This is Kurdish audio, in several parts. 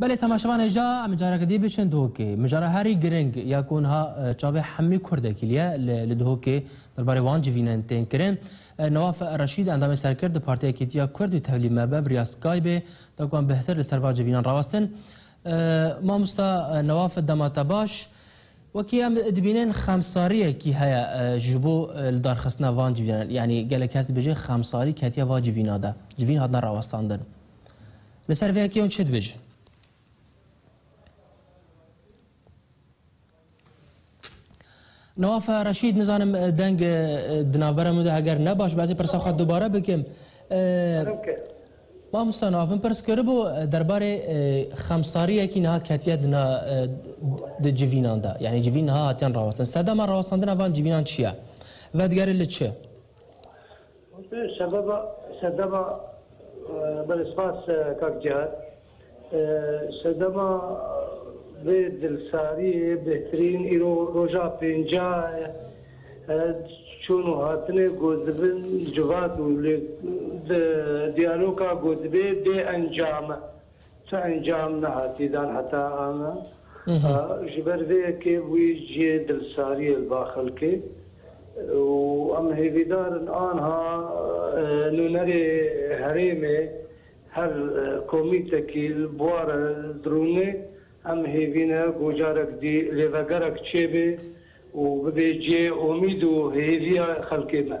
Belê temaşevan e ja em careke dî biçin Duhokê. Mijara herî giring ya ku niha çavê hemî kurdekî li ye li Duhokê derbarê wan civînen tên kirin. Newaf Reşîd endamê serkird di Partiya Yekîtiya Kurd û tevlî me be biriya Skybeê da ku em bi htir li ser van civînan rawestin. Mamosta Newaf dema te baş. Wekî em dibînin xemsariyekî heye ji bo li darxistina van civînan. Yanî gelek kes dibêjin xemsarî ketiye va civîna de. Civîn hatine rawestandin. Li ser vê yekê hûn çi dibêjin? Nawaf Reşîd nizanim deng di navbera min de heger ne baş bezê pirsa xwe dubare bikim. Mamosta Nawaf min pirs kiribû derbarê xemsariyekî niha ketiye dina di civînan de. Yani civîn niha hatiyan rawestin. Sedema rawestandina van civînan çi ye? Vedigerê li çi? Sebeba Sedema Belê spas kak Cihad. Sedema vê dilsariyê bêhtirîn îro roja pêncah e. Çûn û hatinê ku dibin civat û lê diyaloka ku dibê bêencam e. Ti encam nehatî dan heta ana. Ji ber vê yekê bûyî cihê dilsariyê li ba xelkê û em hêvîdar in anha nûnerê herêmê her komîtekî li bwara dirûnê em hêvîne ku carek dî lêvegerek çêbê û bibê cihê omîd û hêviya xelkê me.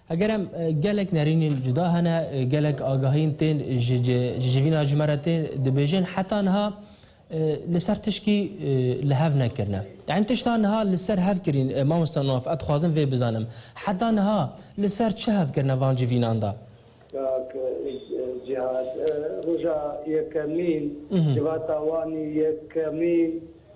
Heger em gelek nerînên cuda hene, gelek agahiyên tên ji civîna ji me re tên dibêjin heta niha li ser tişkî li hev nekirine. Yan tişta niha li ser hev kirîn mamosta Noaf ez dixwazim vê bizanim heta niha li ser çi hev kirine van civînan de? Kak Cihad, roja yekemîn civata wan ê yekemîn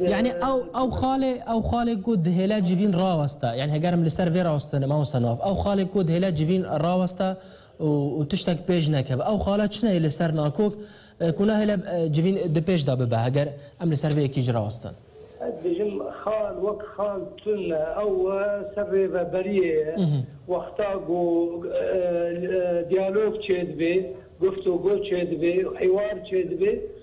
Yani ew ew xalê ew xalê ku dihêle civîn rawesta yani heger em li ser vê rawestinê mawsa nav ew xalê ku dihêle civîn rawesta û û tiştek pêş nekeve ew xala çine yê li ser nakok e, ku nahêle e, civîn di pêş de bibe heger em li ser vê yekî jî rawestin. Ez dibêjim xal wek xal tun e, ew e ser rêveberiyê ye. Wexta ku e, e, diyalog çêdibê, guftûgo çêdibê, hiwar çêdibê,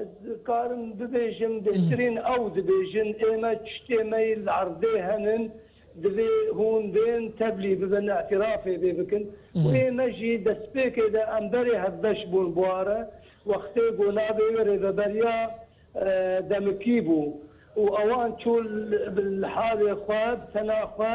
Ez dikarim bibêjim bêhtirîn ew dibêjin ê me tiştê me yê li erdê henin divê hûn bên tevlî bibin îtirafê vê bikin û ê me jî destpêkê de em berê hevbeş bûn bûare wextê ku navê wê rêveberiya demikî bû û ewan çû li halê xwe bi tena xwe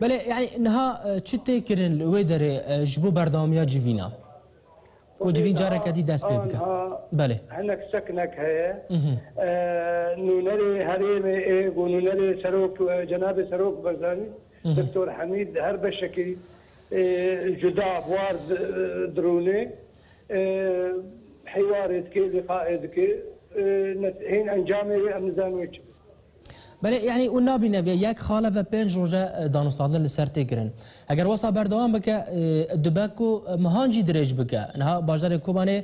Belê, yanî niha çi tê kirin li wê derê ji bo berdewamiya civîna ku civîn careke dî dest pê bike? Belê. Hinek sekinek heye. Nûnerê herêmê ê ku nûnerê serok cenabê Serok Barzanî Doktor Hemîd her beşekî cuda buar dirûnê hêwarê dike, lîqaê dike. Hên encamê wê em nizanin wê çi be. Belê, yanî û nabîne bê yek xale ve pênc roj e danûstandin li ser tê kirin. Heger wesa berdewam bike, dibe ku mihan jî dirêj bike. Niha bajarê Kobanê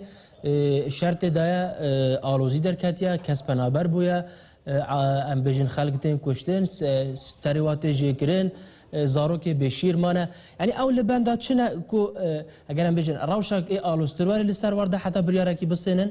şer tê daye, alozî derketiye, kes penaber bûye, em bêjin xelk tên kuştin, serê wan tê jêkirin, zarokê bêşîr mane. Yanî ew li benda çi ne ku heger em bêjin rewşek ê aloztir were li ser war de heta biryarekî bisênin?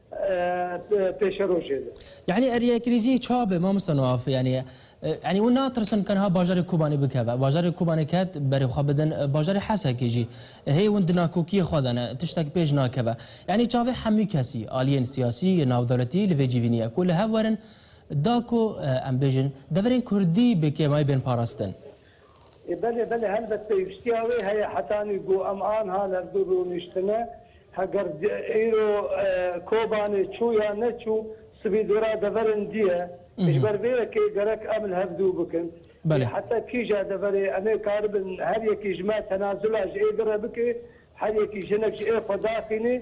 pêşerojê de. Yanî eriyê krîzî ça be mamosta Nuaf? Yanî yanî û natirsin ka niha bajarê Kobanê bikeve. Bajarê Kobanê ket berê xwe bidin bajarê Hesekê jî. Hê hûn di nakokiyê xwe de ne. Tiştek pêş nakeve. Yanî çavê hemû kesî, aliyên siyasî, navdewletî li vê cî vînî ye ku li hev werin da ku em bêjin deverên kurdî bi kêmayî bên parastin. E belê belê helbet pêwîstiya wê heye hetanî ku em anha levdû rûniştine. Heger îro Kobanê çû ya neçû sibî dora deverên dî ye. Ji ber vê yekê gerek em li hev dû bikin. Lê heta kîja deverê em ê karibin her yekî ji me tenazula ji êdire bike, her yekî jinek ji êxwe daxîne